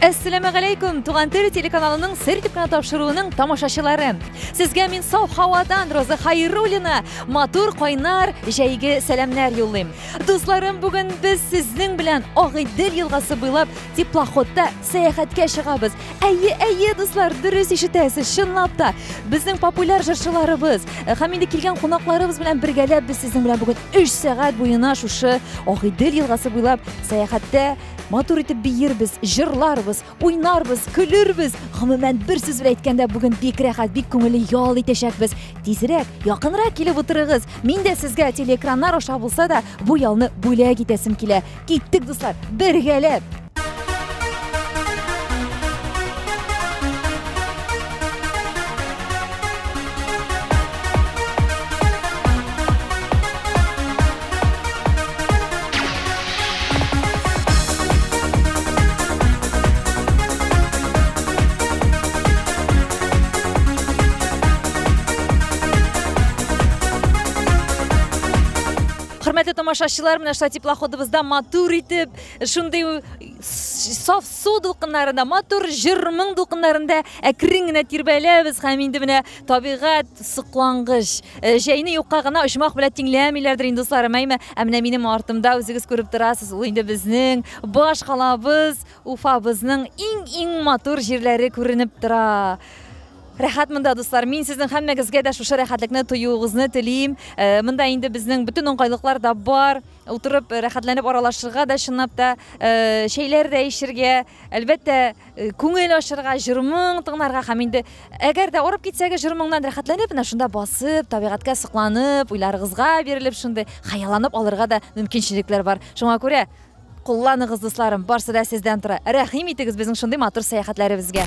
Әссәламә галәйкүм, Туган тел телеканалының сер дип кенә тапшыруының тамашачылары. Сезгә мин сау һавадан Роза Хайруллина матур кайнар җәйге сәламнәр юллыйм. Дусларым, бүген без сезнең белән Агыйдел елгасы буйлап теплоходта сәяхәткә чыгабыз. Әйе, әйе, дуслар, дөрес ишетәсез, чынлап та. Безнең популяр җырчыларыбыз э, һәм инде килгән кунакларыбыз белән бергәләп без сезнең белән бүген 3 сәгать буена шушы Агыйдел елгасы буйлап сәяхәттә Матур итеп биербез, җырларбыз, уйнарбыз, көлербез. Гомумән, бер сүз белән әйткәндә, бүген бик рәхәт, бик күңелле ял итәчәкбез. Тизрәк, якынрак килеп утырыгыз. Мин дә сезгә телеэкраннар аша булса да, бу ялны бүләк итәсем килә. Киттек, дуслар, бергәләп! Хөрмәтле тамашачылар, менә шулай теплоходыбызда матур итеп, шундый саф су дулкыннарында, матур җыр-моң дулкыннарында әкрен генә тирбәләбез һәм инде менә Табигать соклангыч. Э, җәйне юкка гына оҗмах белән тиңләмиләрдер инде дусларым, әйме? Ә менә минем артымда үзегез күреп торасыз, ул инде безнең баш калабыз, Уфабызның иң-иң матур җирләре күренеп тора. Рәхәт монда, дуслар. Мин сезнең һәммәгезгә дә шушы рәхәтлекне тоюыгызны телим. Э, монда инде безнең бөтен уңайлыклар да бар. Утырып, э, рәхәтләнеп аралашырга да чынлап та, э, чәйләр дә эчергә, Әлбәттә, күңел ачырга, җырмың тыңнарга һәм инде әгәр дә арып китсәгез, җырмыңнан рәхәтләнеп, менә шунда басып, табигатькә сокланып, уйларыгызга бирелеп шундый хыялланып алырга да мөмкинчелекләр бар. Шуңа күрә кулланыгыз, дусларым, барсы да сездән тора. Рәхим итегез безнең шундый матур сәяхәтләребезгә.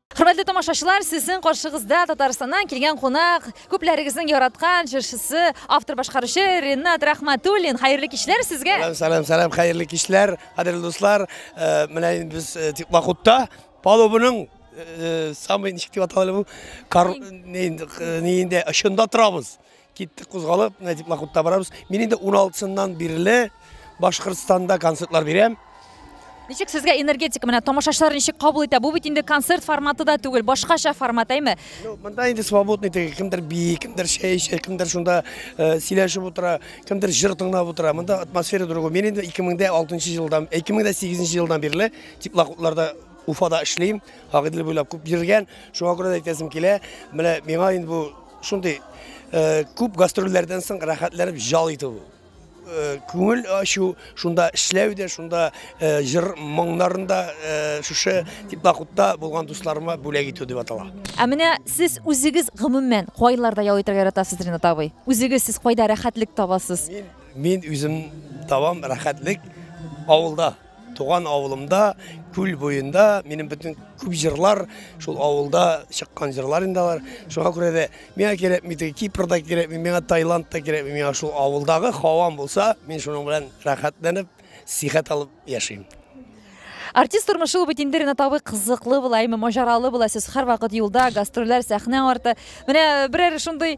Хөрмәтле тамашачылар, сезнең каршыгызда Татарстаннан килгән кунак, күпләрегезнең яраткан җырчысы, автор башкаручы Ренат Рахматуллин. Хәерле кичләр сезгә. Сәлам, сәлам, сәлам, хәерле кичләр, кадерле дуслар. Э, менә инде без э, Тикмахутта палубының э, самый ничек дип аталган бу? Кар не инде очында торабыз. Киттек кузгалып, Нәҗип Макутта барабыз. Мин инде 16-сыннан бирле Башкортстанда концертлар бирәм. Ничек сезгә энергетика менә тамашачылар ничек кабул итә? Бу бит инде концерт форматы да түгел, башкача формат, әйме? Ну, монда инде свободный теге, кемдер бии, кемдер чәй эчә, кемдер шунда э, сөйләшеп утыра, кемдер җыр тыңлап утыра. Монда атмосфера другой. Мин инде 2006 елдан, 2008 елдан бирле теплоходларда Уфада эшлим, Агыйдел буйлап күп йөргән. Шуңа күрә дә әйтәсем килә, менә миңа инде бу Шундый күп гастрольләрдән соң рәхәтләнеп җал итү күңел ачу шунда эшләү дә шунда җыр моңнарында шушы теплоходта булган дусларыма бүләк итү дип атала ә менә сез үзегез гомумән кайларда ял итәргә яратасыз ринат абый үзегез сез кайда рәхәтлек табасыз мин үзем табам рәхәтлек авылда Туган авылымда, күл буенда минем бөтен күп җырлар шул авылда чыккан җырлар инде алар. Шуңа күрә дә миңа кирәкми теге Кипрда кирәкми, миңа Таиланд та кирәкми, миңа шул авылдагы һавам булса, мин шуның белән рәхәтләнеп, сихәт алып яшим. Артист тормышы ул бит инде Ренат абый кызыклы була, әйме маҗаралы була. Сез һәрвакыт юлда, гастрольләр, сәхнә арты. Менә берәр шундый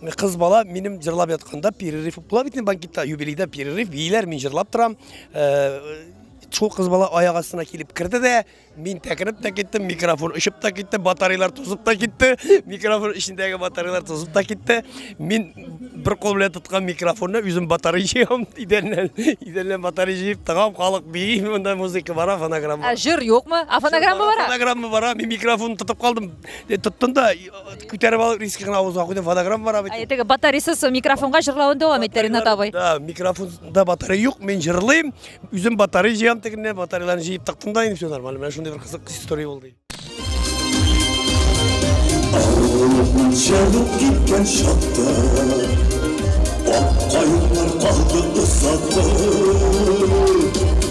Кыз бала минем җырлап ятканда перерыв була бит банкетта, юбилейда перерыв бийләр, мин җырлап торам. Шул кыз бала аяк астына килеп керде дә, мин тәкереп тә киттем, микрофон очып та китте, батареялар тузып та китте, микрофон эчендәге батареялар тузып та китте. Мин бер кол белән тоткан микрофонны үзем батарея җыям, идәннән, идәннән батарея җыеп тыгам, халык бии, монда музыка бара, фонограмма. Ә җыр юкмы? А фонограмма бара? Фонограмма бара, мин микрофон тотып калдым, тоттым да Күтәреп алып риски гына авызга куйдым, фонограмма бара бит. Әйтеге батарейсыз микрофонга җырлавын дәвам итте Ринат абый. Да, микрофонда батарея юк, мин җырлыйм. Үзем батарея җыям тегеннән, батареяларны җыеп тыктым да, инде все нормально. Менә шундый бер кызык история булды. Авыллыкның чабып киткән чакта Ак каеннар калды озак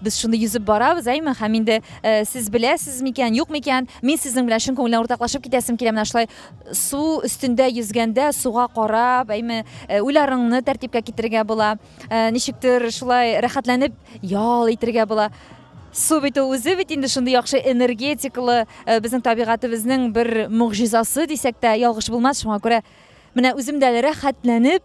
Без шуны йөзеп барабыз, әйме? Һәм инде сез беләсез микән, юк микән, мин сезнең белән чын күңелдән уртаклашып китәсем килә, менә шулай су өстендә йөзгәндә, суга карап, әйме, уйларыңны тәртипкә китерергә була, ничектер шулай рәхәтләнеп ял итергә була. Су бит ул үзе бит инде шундый яхшы энергетикалы, безнең табигатебезнең бер могҗизасы дисәк тә ялгыш булмас, шуңа күрә менә үзем дә әле рәхәтләнеп,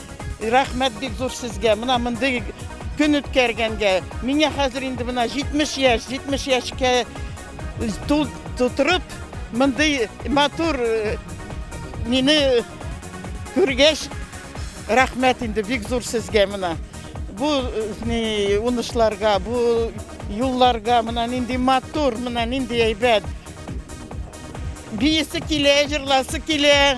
Рәхмәт бик зур сезгә. Менә мондый көн үткәргәнгә. Миңа хәзер инде менә 70 яшь, 70 яшькә тутырып, мондый матур э, мине күргәч, рәхмәт инде бик зур сезгә менә. Бу э, ни унышларга, бу юлларга менә нинди матур, менә нинди әйбәт. Биясе килә, җырласы килә.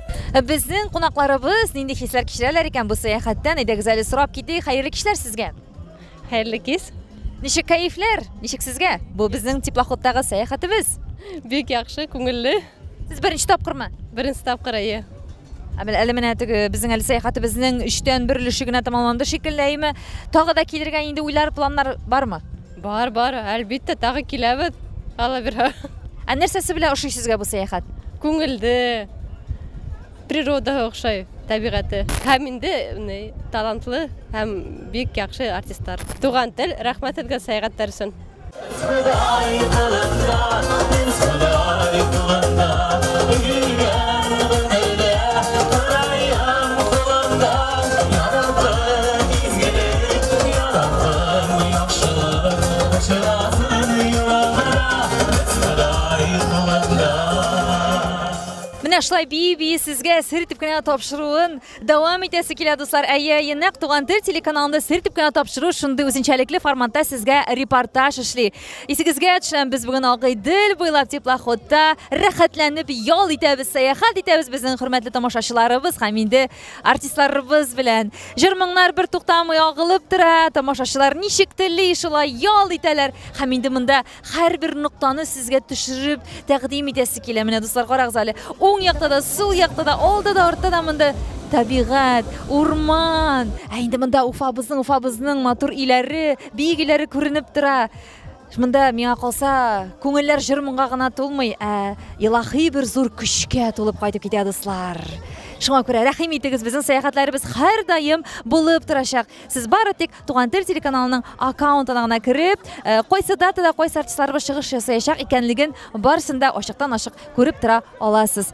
Безнең кунакларыбыз нинди хисләр кичерәләр икән бу сәяхәттән? Әйдәгез әле сорап китик. Хәерле кичләр сезгә. Хәерле кич. Ничек кәефләр? Ничек сезгә? Бу безнең теплоходтагы сәяхәтебез. Бик яхшы, күңелле. Сез беренче тапкырмы? Беренче тапкыр, әйе. Ә менә әле менә теге безнең әле сәяхәтебезнең өчтән бер өлеше генә тәмамланды шикелле, әйеме? Тагы да килергә инде уйлар, планнар бармы? Бар, бар, әлбиттә, тагы киләбез. Алла бирһә. Ә нәрсәсе белән ошый сезгә бу сәяхәт? Күңелде, природаһы охшай, табигате. Һәм инде ни, талантлы һәм бик яхшы артистлар. Туган тел, рәхмәт сезгә сәяхәт дәресен. Менә шулай бии-бии сезгә сер итеп кенә тапшыруын дәвам итәсе килә, дуслар. Әйе, әйе, нәкъ Туган тел телеканалында сер итеп кенә тапшыру шундый үзенчәлекле форматта сезгә репортаж эшли. Исегезгә төшерәм, без бүген Агыйдел буйлап теплоходта рәхәтләнеп ял итәбез, сәяхәт итәбез безнең хөрмәтле тамашачыларыбыз һәм инде Артистларыбыз белән җыр-моңнар бер туктамый агылып тора, тамашачылар ничек тели, шулай ял итәләр. Һәм инде монда һәрбер ноктаны сезгә төшереп тәкъдим итәсе килә. Менә дуслар, карагыз әле, уң якта да, сул якта да, алда да, артта да монда табигать, урман. Ә инде монда Уфабызның, Уфабызның матур өйләре, биек өйләре күренеп тора. Монда миңа калса, күңелләр җыр-моңга гына тулмый, ә илаһи бер зур көчкә тулып кайтып китә, дуслар. Шуңа күрә рәхим итегез, безнең сәяхәтләребез һәрдаим булып торачак. Сез бары тик Туган тел телеканалының аккаунтына гына кереп, э, кайсы датада кайсы артистларыбыз чыгыш ясаячак икәнлеген барысын да ачыктан-ачык күреп тора аласыз.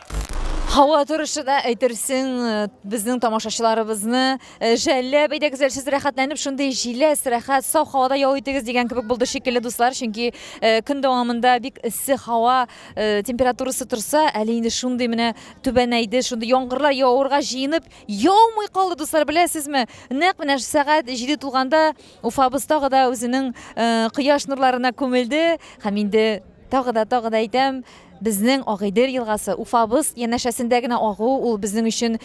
Һава торышы да әйтерсең э, безнең тамашачыларыбызны э, жәлләп әйдәгез әле сез рәхәтләнеп шундый җиләс рәхәт саф һавада ял итегез дигән кебек булды шикелле дуслар чөнки э, көн дәвамында бик эссе һава температурасы торса әле инде шундый менә түбәнәйде шундый яңгырлар явырга җыенып яумый калды дуслар беләсезме нәкъ менә сәгать җиде тулганда уфабыз тагы да үзенең кояш нурларына күмелде һәм инде тагы да тагы да әйтәм Безнең Агыйдел елгасы Уфабыз янәшәсендә генә агу, ул безнең өчен,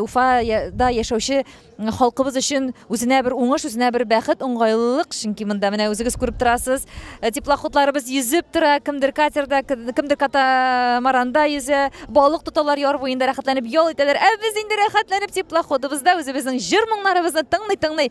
Уфада яшәүче халкыбыз өчен үзенә бер уңыш, үзенә бер бәхет, уңгайлылык, чөнки монда менә үзегез күреп торасыз, теплоходларыбыз йөзеп тора, кемдер катерда, кемдер катамаранда йөзә, балык тоталар, яр буенда рәхәтләнеп ял итәләр, ә без инде рәхәтләнеп теплоходыбызда үзебезнең җыр-моңнарыбызны тыңлый-тыңлый,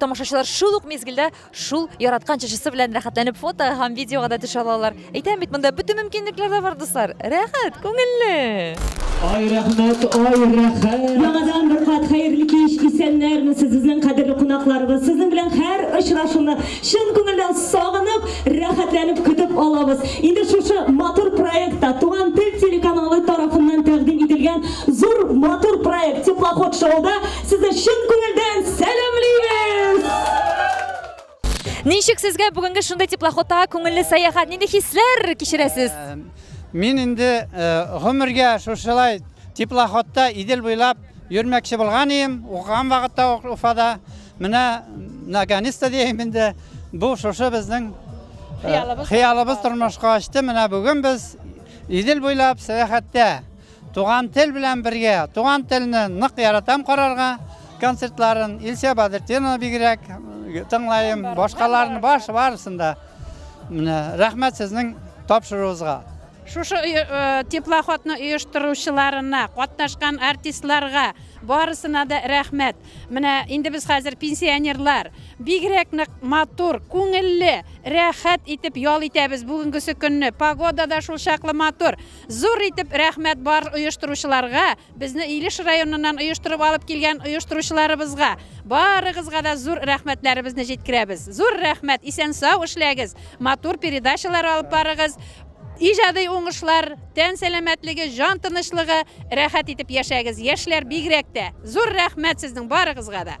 Тамашачылар шул ук мизгелдә шул яраткан чәчесе белән рәхәтләнеп фото һәм видеога да төшә алалар. Әйтәм бит, монда бөтен мөмкинлекләр дә бар, дуслар. Рәхәт, күңелле! Ай рәхмәт, ай рәхәт! Яңадан бер кат хәерле кич, исәннәр месез, безнең кадерле кунакларыбыз! Сезнең белән һәр очрашуны чын күңелдән сагынып, рәхәтләнеп көтеп алабыз. Инде шушы матур проектта, Туган тел телеканалы тарафыннан тәкъдим ителгән зур матур проект Теплоход шоуда Сезне чын күңелдән сәламлибез! Ничек сезгә бүгенге шундый теплоходта күңелле сәяхәт? Нинди хисләр кичерәсез? Э, мин инде э, гомергә шушылай теплоходта Идел буйлап йөрмәкче булган идем, укыган вакытта Уфада. Менә наконец-то дим инде бу шушы безнең э, хыялыбыз тормышка ачты. Менә бүген без Идел буйлап сәяхәттә. Туган тел белән бергә, туган телне нык яратам карарга, концертларын Илсә Бадыртдинова бигрәк тыңлайым, башкаларны баш барысын да. Менә рәхмәт сезнең тапшыруыгызга. Шушы теплоходны оештыручыларына, катнашкан артистларга барысына да рәхмәт. Менә инде без хәзер пенсионерлар, бигрәк нык матур, күңелле, рәхәт итеп ял итәбез бүгенгесе көнне. Погода да шул чаклы матур. Зур итеп рәхмәт бар оештыручыларга, безне Илеш районыннан оештырып алып килгән оештыручыларыбызга. Барыгызга да зур рәхмәтләребезне җиткерәбез. Зур рәхмәт, исән-сау эшләгез, матур передачалар алып барыгыз. Иҗади уңышлар, тән сәламәтлеге, җан тынычлыгы, рәхәт итеп яшәгез, яшьләр бигрәк тә. Зур рәхмәт сезнең барыгызга да.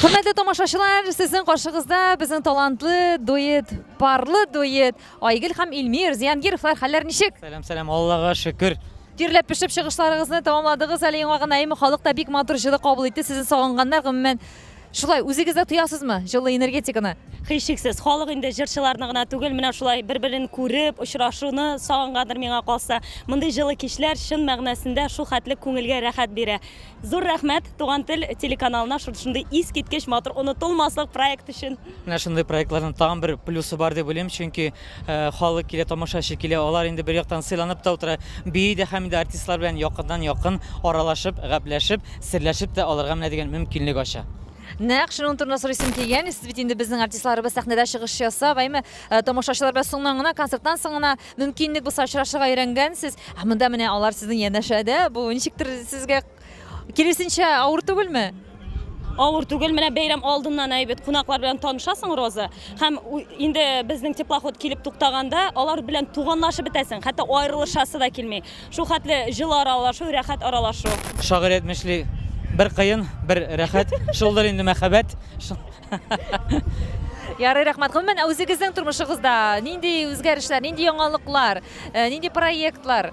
Хөрмәтле тамашачылар, сезнең каршыгызда безнең талантлы дуэт, парлы дуэт Айгөл һәм Илмир Зиянгировлар хәлләр ничек? Сәлам, сәлам, Аллага шөкер. Тирләп пешеп чыгышларыгызны тәмамладыгыз әле яңа гына, әйме халык та бик матур җылы кабул итте. Сезне сагынганнар, гомумән, Шулай үзегез дә тоясызмы җылы энергетиканы? Һичшиксез, халык инде җырчыларны гына түгел, менә шулай бер-берен күреп, очрашуны сагынгандыр миңа калса. Мондый җылы кичләр чын мәгънәсендә шул хәтле күңелгә рәхәт бирә. Зур рәхмәт Туган тел телеканалына шундый искиткеч матур, онытылмаслык проект өчен. Менә шундый проектларның тагын бер плюсы бар дип уйлыйм, чөнки Халык килә, тамашачы килә, алар инде бер яктан сыйланып та утыра, бии дә һәм инде артистлар белән якыннан якын аралашып, гәпләшеп, серләшеп тә алырга менә дигән мөмкинлек ача. Нәкъ шуның турында сорыйсым килгән, сез бит инде безнең артистларыбыз сәхнәдә чыгыш ясап, әйме, тамашачылар белән соңнан гына, концерттан соң гына мөмкинлек булса очрашырга өйрәнгәнсез, ә монда менә алар сезнең янәшәдә, бу ничектер сезгә Киресенчә, авыр түгелме? Авыр түгел, менә бәйрәм алдыннан әйбәт кунаклар белән танышасың, Роза. Һәм инде безнең теплоход килеп туктаганда, алар белән туганлашып бетәсең, хәтта аерылышасы да килми. Шул хәтле җылы аралашу, рәхәт аралашу. Шагыйрь әйтмешли, бер кыен, бер рәхәт, шулдыр инде мәхәббәт. Ярый, рәхмәт. Гомумән, үзегезнең тормышыгызда нинди үзгәрешләр, нинди яңалыклар, э, нинди проектлар?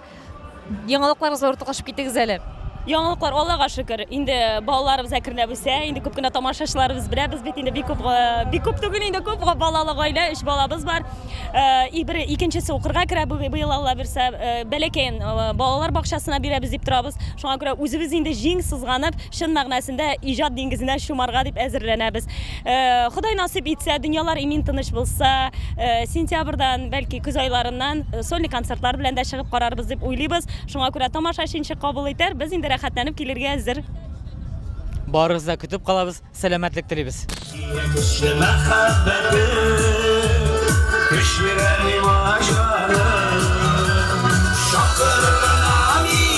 Яңалыкларыгызга уртаклашып китегез әле. Яңалыклар Аллага шөкер. Инде балаларыбыз әкренләп үсә. Инде күп кенә тамашачыларыбыз беләбез бит инде бик күп э, бик күп түгел инде күп балалы гаилә, өч балабыз бар. Э, и бер икенчесе укырга керә быел Алла бирсә, э, бәләкәен балалар бакчасына бирәбез дип торабыз. Шуңа күрә үзебез инде җиң сызганып, чын мәгънәсендә иҗат диңгезенә чумарга дип әзерләнәбез. Ходай насыйп итсә, дөньялар имин-тыныч булса, сентябрьдән, бәлки көз айларыннан сольный концертлар белән дә чыгып карарбыз дип уйлыйбыз. Шуңа күрә тамашачы ничек кабул итәр, без инде рәхәтләнеп килергә әзер. Барыгызны да көтеп калабыз, сәламәтлек телибез! Сине көчле мәхәббәтем, көч бирә миңа җаным, чакырырга мин.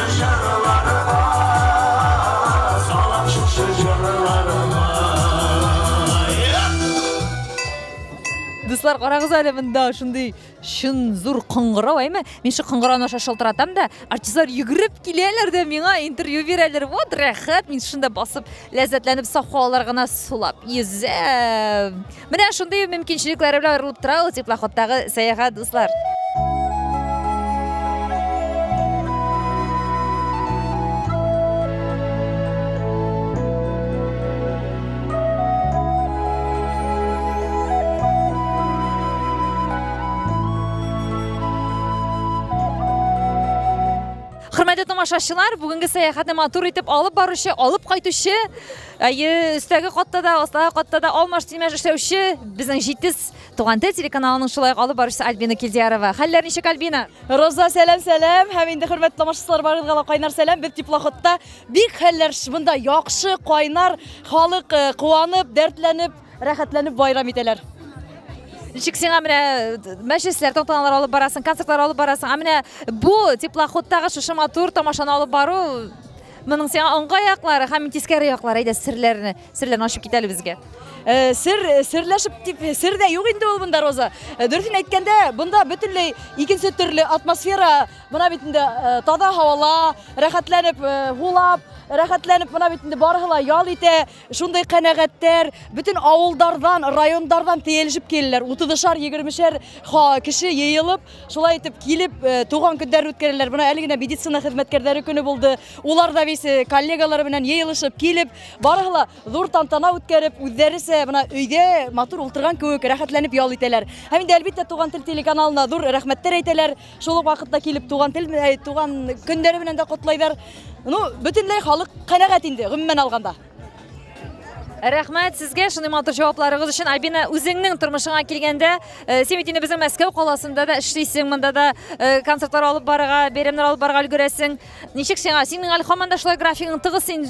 Җырларыма салам шушы җырларыма Дуслар, карагыз әле монда шундый чын зур кыңгырау, әйме? Мин шул кыңгырауны аша шалтыратам да, артистлар йөгереп киләләр дә миңа интервью бирәләр. Вот рәхәт, мин шунда басып, ләззәтләнеп саф һавалар гына сулап йөзәм. Менә шундый мөмкинчелекләре белән аерылып тора ул теплоходтагы сәяхәт, дуслар. тамашачылар, бүгінгі сәяхәтне матур итеп алып барушы, алып кайтучы Әйе, өстәге катта да, астагы катта да алмаш-тилмәш эшләүче безнең җитез Туган тел телеканалының шулай алып баручысы Альбина Килдиярова. Хәлләр ничек, Альбина? Роза, сәлам, сәлам. Һәм инде хөрмәтле тамашачылар барыгызга да кайнар сәлам. Без теплоходта бик хәлләр шыбында яхшы, кайнар, халык э, куанып, дәртләнеп, рәхәтләнеп байрам итәләр. Ничек сиңа менә э, мәҗлесләр, тантаналар алып барасың, концертлар алып барасың. Ә менә бу теплоходтагы шушы матур тамашаны алып бару Моның сиңа уңга яклары һәм тискәре яклары, әйдә серләрне, серләрне ачып кит әле безгә. Э, сер э, серләшеп дип э, сер дә юк инде ул монда роза дөресен әйткәндә монда бөтенләй икенче төрле атмосфера мына бит инде таза һавала рәхәтләнеп һулап рәхәтләнеп мына бит инде барыһы ла ял итә Шундый канәгатьтәр бөтен авылдардан, райондардан тиелешеп киләләр. Утызышар, егермешәр кеше йыелып, шулай итеп килеп, э, туган көннәр үткәрәләр. Менә әле генә медицина хезмәткәрләре көне булды. Улар да весе э, коллегалары белән йыелышып килеп, барысы да зур тантана үткәреп, үзләресе менә өйдә матур ултырган кебек рәхәтләнеп ял итәләр. Һәм инде әлбәттә туган тел телеканалына зур рәхмәтләр әйтәләр. Шул ук вакытта килеп туган тел, э, туган көннәре белән дә котлайлар. Ну, бөтенләй халык канәгать инде, гомумән алганда. Рәхмәт сезгә шундый матур җавапларыгыз өчен. Альбина, үзеңнең тормышыңа килгәндә, э, син бит инде безнең Мәскәү каласында да эшлисең, монда да э, концертлар алып барырга, бәйрәмнәр алып барырга өлгерәсең. Ничек сиңа? Синең әле һаман да шулай графигың тыгыз син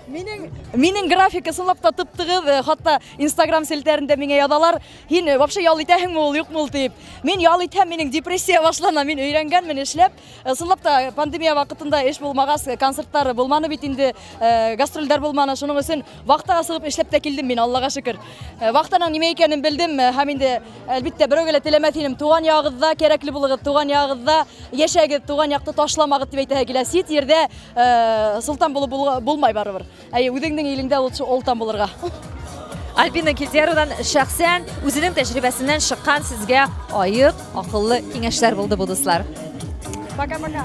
Минең минең графика сынлап та тып-тыгыз, э, хатта Instagram селтәрендә миңа язалар. Һин э, вообще ял итәһеңме ул юкмы ул дип. Мин ял итәм, минем депрессия башлана. Мин өйрәнгәнмен эшләп. Э, Сынлап та пандемия вакытында эш булмагач, э, концертлар булманы бит инде, гастрольләр булманы. Шуның өчен вахтага сыгып эшләп тә килдем мин, Аллага шөкер. Вахтаның нимә икәнен белдем һәм инде әлбәттә берәүгә дә теләмәс идем. Туган ягыгызда кирәкле булыгыз, туган ягыгызда яшәгез, туган якты ташламагыз дип әйтәһе килә. Сит җирдә солтан булып булмай барыбер. Әйе, үзеңнең илеңдә ул олтан булырга. Альбина Кильдеровдан шәхсән үзенең тәҗрибәсеннән шыккан сезгә аек, акыллы киңәшләр булды бу дуслар. Пока-пока.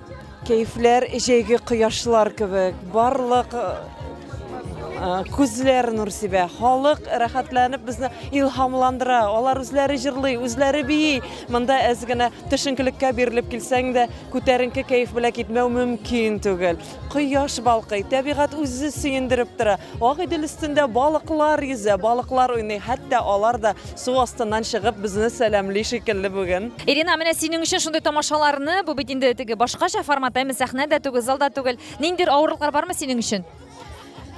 Кәефләр җәйге кояшлар кебек, барлык күзләр нур сибә халык рәхәтләнеп безне илһамландыра алар үзләре җырлый үзләре бии монда әз генә төшенкелеккә бирелеп килсәң дә күтәренке кәеф белән китмәү мөмкин түгел кояш балкый табигать үзе сөендереп тора ак өстендә балыклар йөзә балыклар уйный хәтта алар да Су астыннан чыгып безне сәламли шикелле бүген. Ирина, менә синең өчен шундый тамашаларны, бу бит инде теге башкача формат, әме сәхнә дә түгел, зал да түгел. Ниндидер авырлыклар бармы синең өчен?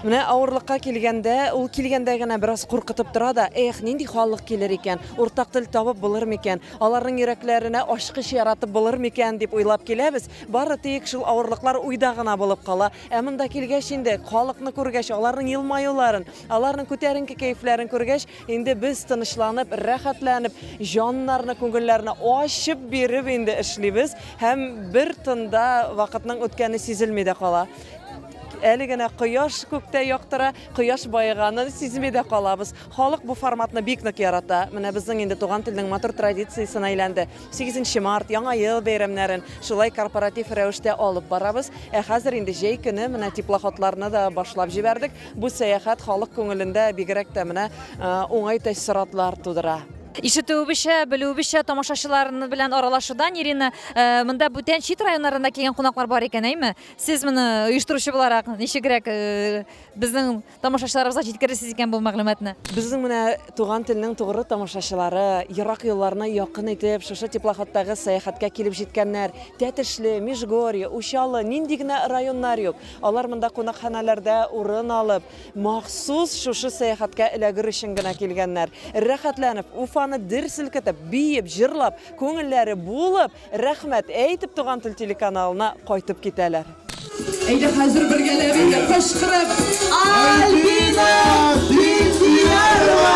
Менә авырлыкка килгәндә, ул килгәндә генә бераз куркытып тора да, эх, нинди халык килер икән, уртак тел табып булыр микән, аларның йөрәкләренә ачкыч яратып булыр микән дип уйлап киләбез. Бары тик шул авырлыклар уйда гына булып кала. Ә монда килгәч инде, халыкны күргәч, аларның елмаюларын, аларның күтәренке кәефләрен күргәч, Инде без тынычланып, рәхәтләнеп, җаннарны, күңелләрне ачып биреп инде эшлибез һәм бер тында вакытның үткәне сизелми дә кала. Әле генә кояш күктә яктыра, кояш баеганын сизми дә калабыз. Халык бу форматны бик нык ярата. Менә безнең инде туган телнең матур традициясенә әйләнде. 8 март, Яңа ел бәйрәмнәрен шулай корпоратив рәвештә алып барабыз. Ә хәзер инде җәй көне менә теплоходларны да башлап җибәрдек. Бу сәяхәт халык күңелендә бигрәк тә менә уңай тәэссоратлар тудыра. Ишетүебезчә, белүебезчә, тамашачылар белән аралашудан Ирина, э, монда бүтән чит районнарында килгән кунаклар бар икән, әйме? Сез моны оештыручы буларак ничегрәк э, безнең тамашачыларыбызга җиткерерсез икән бу мәгълүматны? Безнең менә туган телнең тугры тамашачылары, ерак юлларны якын итеп, шушы теплоходтагы сәяхәткә килеп җиткәннәр. Тәтешле, Межгорье, Учалы, нинди генә районнар юк. Алар монда кунакханәләрдә урын алып, махсус шушы сәяхәткә эләгер өчен генә килгәннәр. Рәхәтләнеп, Уфаны дер селкетеп, биеп, җырлап, күңелләре булып, рәхмәт әйтеп, Туган тел телеканалына кайтып китәләр. Әйдә хәзер бергәләп инде кычкырып Альбина Биктиярова!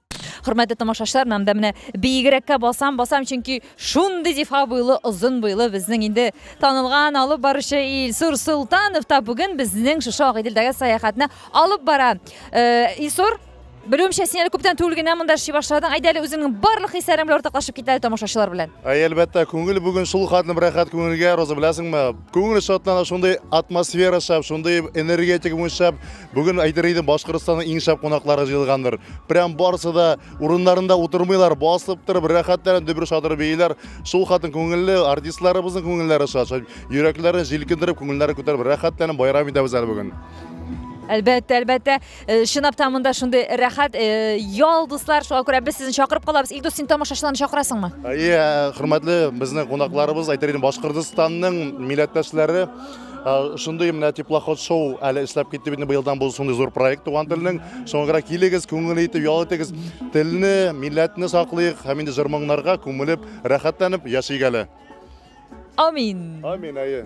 Хөрмәтле тамашачылар, мен анда менә биегрәккә басам, басам, чөнки шундый зифа буйлы, озын буйлы безнең инде танылган алып баручы Илсур Солтанов та бүген безнең шушы Агыйделдәге сәяхәтне алып бара. Э, Илсур, Белүемчә, син әле күптән түгел генә монда эшли башладың. Әйдә әле үзеңнең барлык хисләрең белән уртаклашып кит әле тамашачылар белән. Әй, әлбәттә, күңел бүген шул хатным рәхәт күңелгә, Роза беләсеңме? Күңел шатлана, шундый атмосфера шәп, шундый энергетика бүген шәп. Бүген әйтер идем, Башкортстанның иң шәп кунаклары җыелгандыр. Прям барысы да урыннарында утырмыйлар, басып торып, рәхәтләнеп дөбер шатыр бейиләр. Шул хатын күңелле, артистларыбызның күңелләре шат, шат. Йөрәкләрен җилкендереп, күңелләрен күтәреп, рәхәтләнеп байрам итәбез әле бүген. Әлбәттә, әлбәттә, э, чынлап та монда шундый рәхәт, э, ял, дуслар, шуңа күрә без сезне чакырып калабыз. Илдус, син тамашачыларны чакырасыңмы? Әйе, хөрмәтле безнең кунакларыбыз, әйтер идем, Башкортстанның милләттәшләре, Шундый менә теплоход шоу әле эшләп китте бит быелдан бу шундый зур проект туган телнең. Соңгыра килегез, күңел итеп ял итегез. Телне, милләтне саклыйк һәм инде җырмыңнарга күмелеп, рәхәтләнеп яшик әле. Амин. Амин, әйе.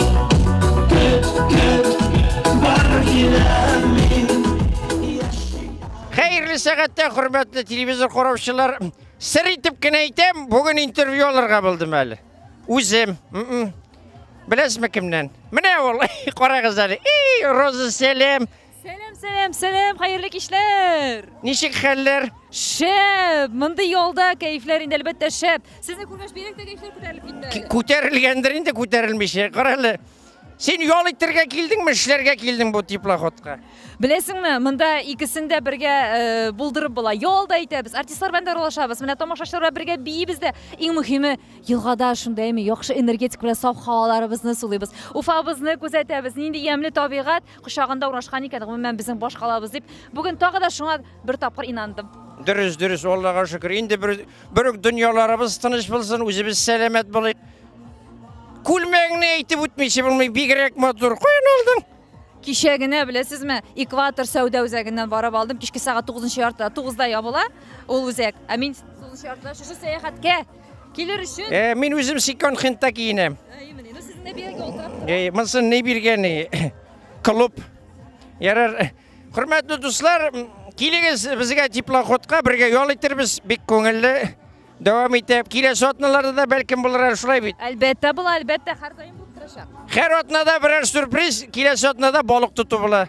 Хәерле сәгатьтә хөрмәтле телевизор караучылар. Сер итеп кенә әйтәм, бүген интервью алырга булдым әле. Үзем. Беләсезме кемнән? Менә ул, карагыз әле. И, Роза Сәлем. Сәлам, сәлам, сәлам, хәерле кичләр! Ничек хәлләр? Шәп! Мондый ялда кәефләр инде әлбәттә шәп. Сезне күргәч бигрәк тә кәефләр күтәрелеп китте әле. Күтәрелгәндер инде күтәрелмичә. Кара әле. Син ял итәргә килдеңме, эшләргә килдең бу теплоходка? Беләсеңме, монда икесен дә бергә э, булдырып була. Ял да итәбез, артистлар белән дә аралашабыз. Менә тамашачылар белән бергә биибез дә. Иң мөһиме, елгада шундыймы яхшы энергетик белән саф һаваларыбызны сулыйбыз. Уфабызны күзәтәбез. Нинди ямьле табигать. кочагында урнашкан икән, гомумән безнең баш калабыз дип, бүген тагы да шуңа бер тапкыр инандым. Дөрес, дөрес, Аллага шөкер. Инде бер бер дөньяларыбыз тыныч булсын, үзебез сәламәт булыйк. Күлмәгеңне әйтеп үтмичә булмый, бигрәк матур. Каян алдың? Кичә генә беләсезме, Экватор сәүдә үзәгеннән барып алдым. Кичке сәгать 9 яртыда, 9 да ябыла ул үзәк. Ә мин 9 яртыда шушы сәяхәткә Килер өчен. Э, мин үзем секонд хендта киенәм. Э, именно. Ну, сезне биргән ялтырап. Э, монсын ни биргән? Клуб. Ярар. Хөрмәтле дуслар, килегез безгә теплоходка, бергә ял итәрбез. Бик күңелле. Дәвам итеп, киләсе атналарда да бәлкем булыр шулай бит. Әлбәттә була, әлбәттә һәр даим булып торачак. Һәр атнада берәр сюрприз, киләсе атнада балык тоту була.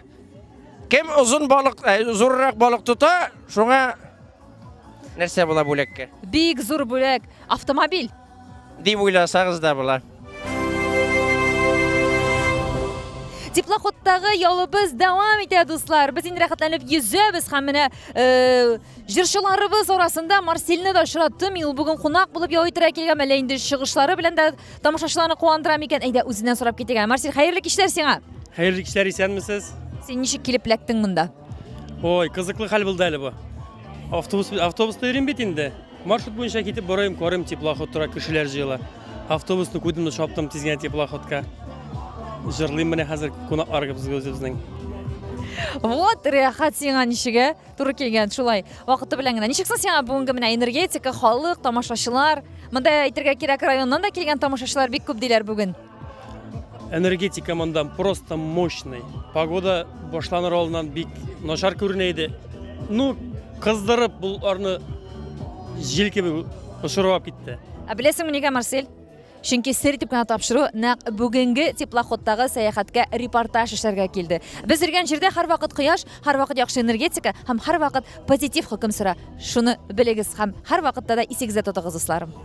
Кем озын балык, э, зуррак балык тота, шуңа Нәрсә була бүләккә? Бик зур бүләк, автомобиль. Дип уйласагыз да була. Теплоходтагы ялыбыз дәвам итә, дуслар. Без инде рәхәтләнеп йөзәбез һәм менә э, җырчыларыбыз арасында Марсельны да очраттым. Мин ул бүген кунак булып ял итәргә килгән, әллә инде чыгышлары белән дә тамашачыларны куандыра микән? Әйдә, үзеннән сорап китегә. Марсель, хәерле кичләр сиңа. Хәерле кичләр, исәнмесез? Син ничек килеп эләктең монда? Ой, кызыклы хәл булды әле бу. Автобус автобуста йөрим бит инде. Маршрут буенча китеп барыйм, карыйм, теплоход тора, кешеләр җыела. Автобусны күрдем дә чаптым тиз генә теплоходка. Җырлыйм менә хәзер кунаклар безнең. Вот, рәхәт сиңа ничегә туры килгән, шулай. Вакыты белән генә. Ничек соң сиңа бүгенге менә энергетика, халык, тамашачылар? Монда әйтергә кирәк, районнан да килгән тамашачылар бик күп диләр бүген. Энергетика монда просто мощный. Погода башланыр алдыннан бик начар күренә иде. Ну, кыздырып боларны җил кебек очырып китте. Ә беләсеңме нигә, Марсель? Чөнки сер итеп кенә тапшыру нәкъ бүгенге теплоходтагы сәяхәткә репортаж эшләргә килде. Без йөргән җирдә һәрвакыт кояш, һәрвакыт яхшы энергетика һәм һәрвакыт позитив хөкем сора. Шуны белегез һәм һәрвакытта да исегездә тотыгыз, дусларым.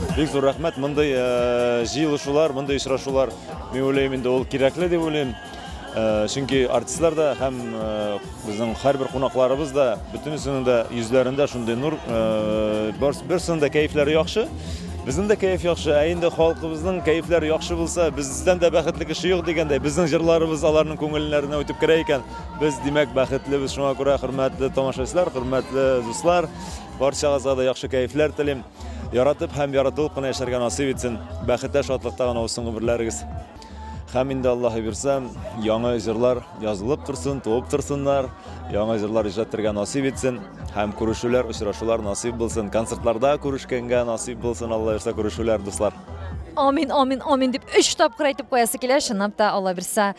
Бик зур рәхмәт, мондый э, җыелышулар, мондый очрашулар, мин уйлыйм инде ул кирәкле дип уйлыйм. Э, чөнки артистлар да һәм э, безнең һәрбер кунакларыбыз да бөтенесенең дә йөзләрендә шундый нур, берсенең дә кәефләре яхшы. Безнең дә кәеф яхшы, ә инде халкыбызның кәефләре яхшы булса, бездән дә бәхетле кеше юк дигәндәй, безнең җырларыбыз аларның күңелләренә үтеп керә икән. Без, димәк, бәхетлебез. Шуңа күрә хөрмәтле тамашачылар, хөрмәтле дуслар, барчагызга да яхшы кәефләр телим. Яратып һәм яратылып кына яшәргә насыйп итсен. Бәхеттә, шатлыкта гына узсын гомерләрегез. Һәм инде Аллаһы бирсә, яңа җырлар язылып торсын, туып торсыннар, яңа җырлар иҗат итәргә насыйп итсен һәм күрешүләр, очрашулар насыйп булсын. Концертларда күрешкәнгә насыйп булсын, Алла бирсә, күрешүләр, дуслар. Амин, амин, амин дип өч тапкыр әйтеп куясы килә, чынлап та, Алла бирсә.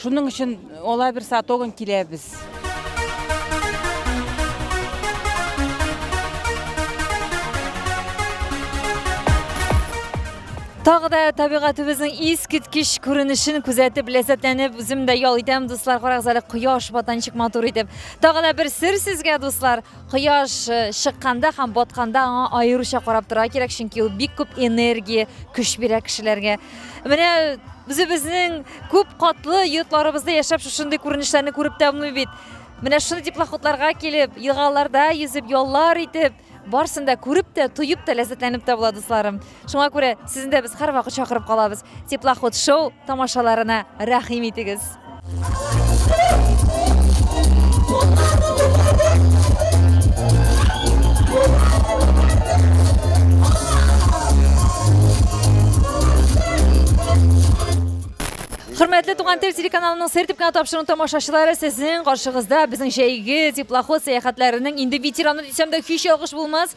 Шуның өчен алай бер сатогын киләбез. Тагы да табигатыбызның искиткеч күренешен күзәтеп ләззәтләнеп үзем дә ял итәм, дуслар, карагыз әле кояш батанчык матур итеп. Тагы да бер сер сезгә, дуслар. кояш э, чыкканда һәм батканда аңа аеруча карап торырга кирәк чөнки ул бик күп энергия көч бирә кешеләргә менә үзебезнең күп катлы йортларыбызда яшәп шушындый күренешләрне күреп тәмле бит менә шундый теплоходларга килеп елгаларда йөзеп яллар итеп барсын да күреп тә тоеп тә ләззәтләнеп тә була дусларым Шуңа күрә сезне дә без һәрвакыт чакырып калабыз. Теплоход шоу тамашаларына рәхим итегез. Хөрмәтле туган тел телеканалының сер төпкән тапшыруын тамашачылары сезнең каршыгызда безнең җәйге теплоход сәяхәтләренең инде ветераны дисәм дә һич ялгыш булмас.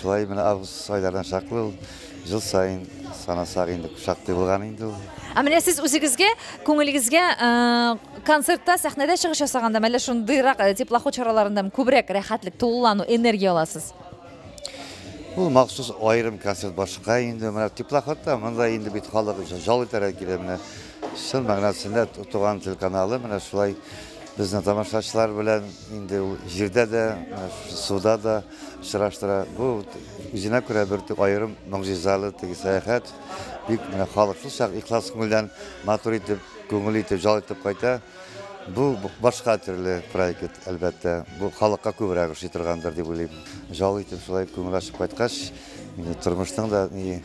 Шулай менә август айларына чаклы ул жыл сайын санасак инде шактый булган инде ул. Ә менә сез үзегезгә, күңелегезгә э, концертта, сәхнәдә чыгыш ясаганда, әллә шундыйрак э, теплоход чараларында күбрәк рәхәтлек, тулылану, энергия аласыз? Ул махсус аерым концерт башка инде менә теплоходта монда инде бит халык жал итәргә килә менә чын мәгънәсендә туган телеканалы менә шулай безнең тамашачылар белән инде ул җирдә дә суда да сораштыра. Бу үзенә күрә бер тик аерым могҗизалы теге сәяхәт. Бик менә халык шулчак ихлас күңелдән матур итеп, күңел итеп, җал итеп кайта. Бу башка төрле проект, әлбәттә. Бу халыкка күбрәк ошый торгандыр дип уйлыйм. Җал итеп шулай күңел ачып кайткач, тормышның да ни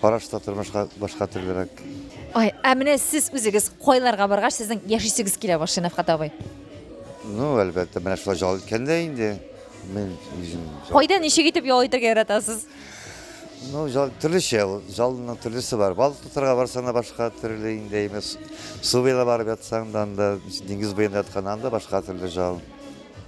Караш та тормышка башка төрлерәк. Ай, ә менә сез үзегез кайларга баргач, сезнең яшисегез килә башлый, Нәфкат абый? Ну, әлбәттә, менә шулай ял иткәндә инде. Мин Кайда ничек итеп ял итәргә яратасыз? Ну, жал, төрлечә ул. Жалның төрлесе бар. Бал тотарга барсаң да башка төрле инде имес. Су буена барып ятсаң да анда, диңгез буенда ятканнан да башка төрле жал.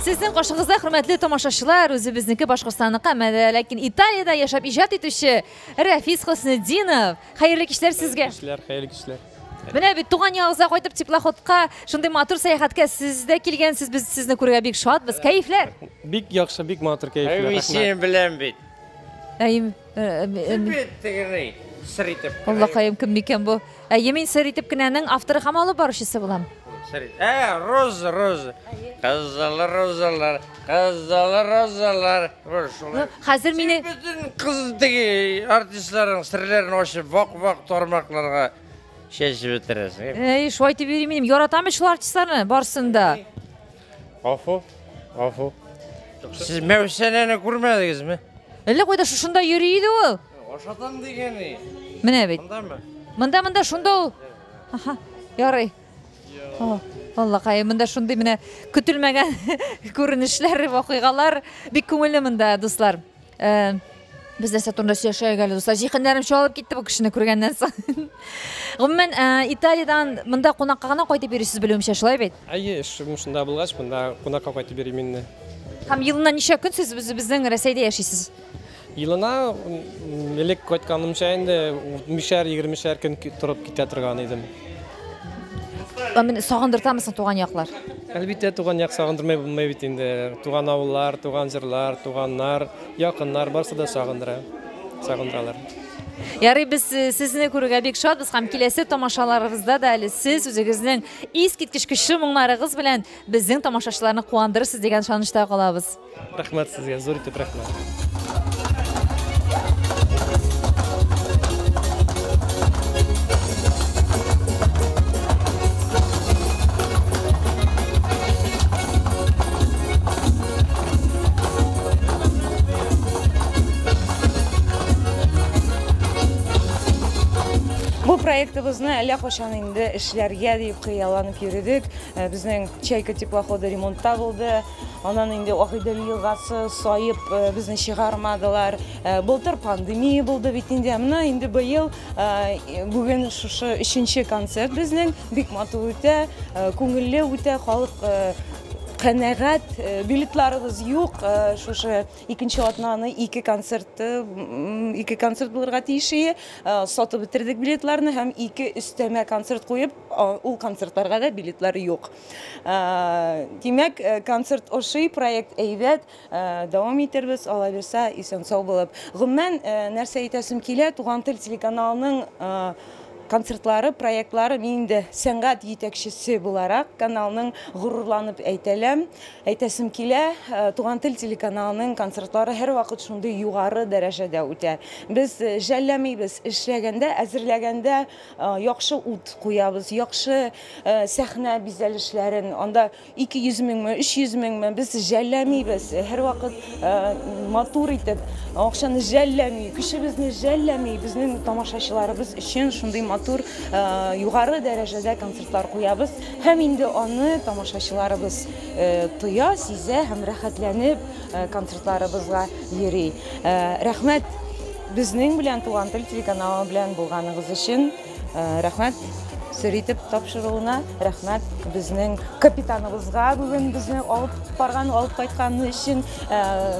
Сезнең кашыгызда хөрмәтле тамашачылар, үзебезнеке Башкортстанныкы, әмма ләкин Италиядә яшәп иҗат итүче Рәфис Хөснетдинов. Хәерле кичләр сезгә. Кичләр, хәерле кичләр. Менә бит туган ягыгызга кайтып теплоходка, шундый матур сәяхәткә сез дә килгәнсез. Без сезне күрергә бик шатбыз. Кәефләр? Бик яхшы, бик матур кәефләр. Әйе, син белән бит. Әйе. сер итеп. Аллакаем кем микән бу? Әйе, мин сер итеп кенәнең авторы һәм алып баручысы булам. Сер. Ә, роз, роз. Кызыл розалар, кызыл розалар. Шулай. Хәзер мине бөтен кыз диге артистларның серләрен ачып, вак-вак тармакларга чәчеп бетерәсең. Әй, шулай дип йөрим мин. Яратам шул артистларны барсын да. Гафу, гафу. Сез Мәүсәнәне күрмәдегезме? Әллә кайда шушында йөри иде ул. Ашатам дигән и. Менә бит. Мондамы? Монда, монда, шунда ул. Аха, ярый. О, Аллакай, монда шундый менә көтелмәгән күренешләр, вакыйгалар. Бик күңелле монда, дуслар. Э, без нәрсә турында сөйләшәйек әле, дуслар? Җиһаннарым чалып китте бу кешене күргәннән соң. Гомумән, э, Италиядән монда кунакка гына кайтып йөрисез белүемчә, шулай бит? Әйе, эшем шунда булгач, монда кунакка кайтып йөрим инде. Һәм елына ничә көн сез үзебезнең Рәсәйдә яшисез? Елына элек кайтканымча инде мишәр, егермешәр көн торып китә торган идем. Менә сагындыртамы соң туган яклар? Әлбиттә, туган як сагындырмай булмый бит инде. Туган авыллар, туган җырлар, туганнар, якыннар барсы да сагындыра. Сагындыралар. Ярый, без э, сезне күрергә бик шатбыз һәм киләсе тамашаларыбызда да әле сез үзегезнең искиткеч көчле моңнарыгыз белән безнең тамашачыларны куандырырсыз дигән ышанычта калабыз. Рәхмәт сезгә, зур итеп проектыбызны әллә качан инде эшләргә дип хыялланып йөридек. Э, безнең Чайка теплоходы ремонтта булды. Анан инде Агыйдел елгасы саеп безне чыгармадылар. Былтыр пандемия булды бит инде. Менә инде быел бүген шушы өченче концерт безнең. Бик матур үтә, күңелле үтә, халык канәгать, э, билетларыбыз юк. Э, шушы икенче атнаны ике концерт ике концерт булырга тиеш иде. Э, сатып бетердек билетларны һәм ике өстәмә концерт куеп, ул концертларга да билетлар юк. Димәк, концерт ошый, проект әйбәт, дәвам итербез, алла бирса, исән сау булып. Гомумән, нәрсә әйтәсем килә, Туган тел телеканалының концертлары, проектлары мин инде сәнгать җитәкчесе буларак каналның горурланып әйтәләм. Әйтәсем килә, Туган тел телеканалының концертлары һәрвакыт шундый югары дәрәҗәдә үтә. Без жәлләмибез, эшләгәндә, әзерләгәндә Яхшы ут куябыз, яхшы сәхнә бизәлешләрен, анда 200 меңме, 300 меңме, без жәлләмибез. Һәрвакыт матур итеп, акчаны жәлләми, көчебезне жәлләми, безнең тамашачыларыбыз өчен шундый матур, югары дәрәҗәдә концертлар куябыз. Һәм инде аны тамашачыларыбыз тоя, сизә һәм рәхәтләнеп, Концертларыбызга йөри. Рәхмәт безнең белән Туган тел телеканалы белән булганыгыз өчен. Рәхмәт сер итеп тапшыруына, рәхмәт безнең капитаныбызга бүген безне алып барган, алып кайтканы өчен,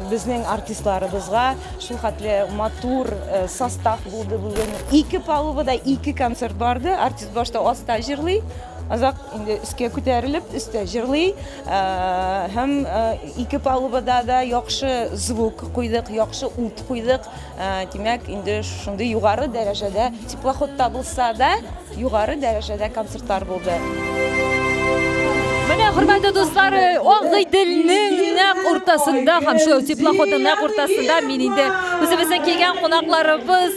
безнең артистларыбызга шул хәтле матур состав булды бүген. Ике палубада ике концерт барды. Артист башта аста җырлый, азак инде өскә күтәрелеп, өстә җырлый. Һәм ике палубада да яхшы звук куйдык, яхшы ут куйдык. Димәк, инде шундый югары дәрәҗәдә теплоходта булса да, югары дәрәҗәдә концертлар булды. Менә хөрмәтле дуслар, Агыйделнең нәкъ уртасында һәм шул теплоходның нәкъ уртасында мин инде үзебезнең килгән кунакларыбыз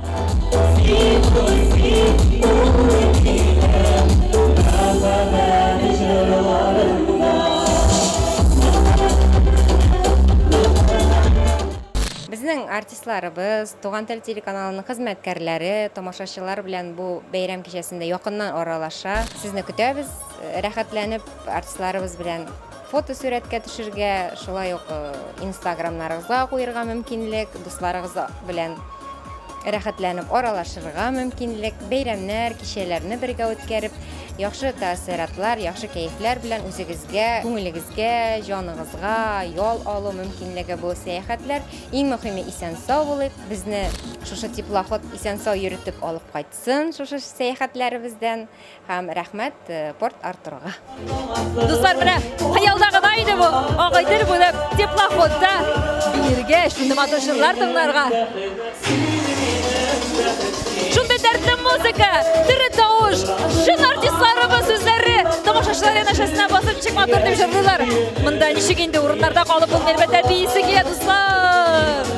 Безнең артистларыбыз, Туган тел телеканалының хезмәткәрләре, тамашачылар белән бу бәйрәм кичәсендә якыннан аралаша. Сезне көтәбез, рәхәтләнеп артистларыбыз белән Фото сурәткә төшергә, шулай ук инстаграмнарыгызга куерга мөмкинлек, дусларыгыз белән рәхәтләнеп аралашырга мөмкинлек, бәйрәмнәр, кичәләрне бергә үткәреп, яхшы тәэссоратлар, яхшы кәефләр белән үзегезгә, күңелегезгә, җаныгызга ял алу мөмкинлеге бу сәяхәтләр. Иң мөһиме исән сау булыйк. Безне шушы теплоход исән сау йөртеп алып кайтсын шушы сәяхәтләребездән. Һәм рәхмәт Порт Артурга. Дуслар, менә хыялда гына иде бу. Агыйдел булып, теплоходта биргә шундый матур җырлар тыңларга. Шундый дәртле музыка, төрле тавыш, чын артистларыбыз сүзләре тамашачылар янәшәсенә басып ничек матур дип җырлыйлар. Монда ничек инде урыннарда калып булмый, әлбәттә, биисе килә, дуслар.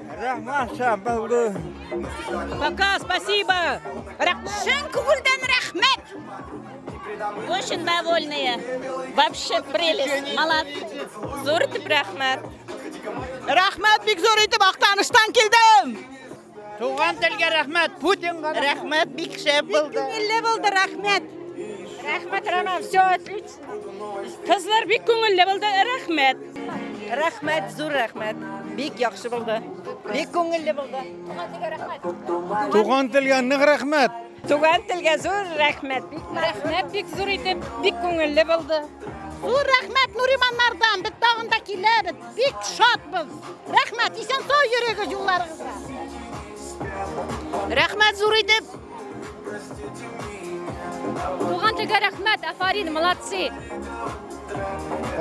Рәхмәт шәбәле. Пока, спасибо. Чын күңелдән рәхмәт. Очень довольные. Вообще прелесть. Малат. Зур итеп рәхмәт. Рәхмәт бик зур итеп Актаныштан килдем. Туган телгә рәхмәт. Путинга рәхмәт бик шәп булды. Бик күңелле булды, рәхмәт. Рәхмәт, Роман, все отлично. Кызлар бик күңелле булды, рәхмәт. Рәхмәт, зур рәхмәт. Бик яхшы булды. Бик күңелле булды. Туган телгә нык рәхмәт. Туган телгә зур рәхмәт. Бик рәхмәт, бик зур итеп, бик күңелле булды. Зур рәхмәт Нуриманнардан. Без тагын да киләбез. Бик шатбыз. Рәхмәт, исән-сау йөрегез юлларыгызда. Рәхмәт зур итеп. Туган телгә рәхмәт, афарин, молодцы!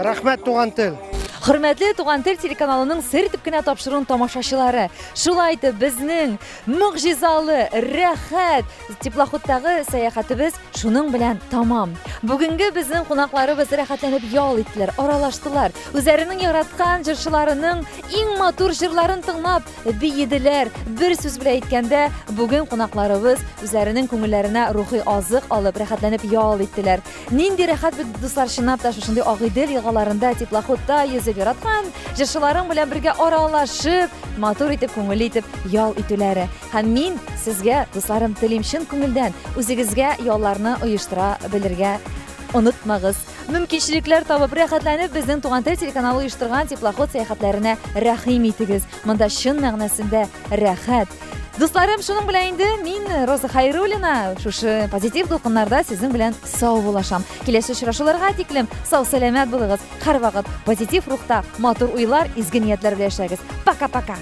Рәхмәт, туган тел! Хөрмәтле Туган тел телеканалының сер төпкенә тапшыруын тамашачылары. Шулай итеп безнең могҗизалы, рәхәт теплоходтагы сәяхәтебез шуның белән тамам. Бүгенге безнең кунакларыбыз рәхәтләнеп ял иттеләр, аралаштылар. Үзләренең яраткан җырчыларының иң матур җырларын тыңлап, биеделәр. Бер сүз белән әйткәндә, бүген кунакларыбыз үзләренең күңелләренә рухи азык алып, рәхәтләнеп ял иттеләр. Нинди рәхәт бит, дуслар, чынлап та шушындый Агыйдел елгаларында теплоходта йөзеп яраткан җырчыларың белән бергә аралашып, матур итеп, күңелле итеп ял итүләре. Һәм мин сезгә, дусларым, телим чын күңелдән үзегезгә ялларны оештыра белергә онытмагыз. Мөмкинчелекләр табып, рәхәтләнеп безнең Туган тел телеканалы оештырган теплоход сәяхәтләренә рәхим итегез. Монда чын мәгънәсендә рәхәт. Дусларым, шуның белән инде мин Роза Хайруллина шушы позитив дулкыннарда сезнең белән сау булашам. Киләсе очрашуларга тиклем сау сәламәт булыгыз. Һәрвакыт позитив рухта, матур уйлар, изге ниятләр белән яшәгез. Пока-пока.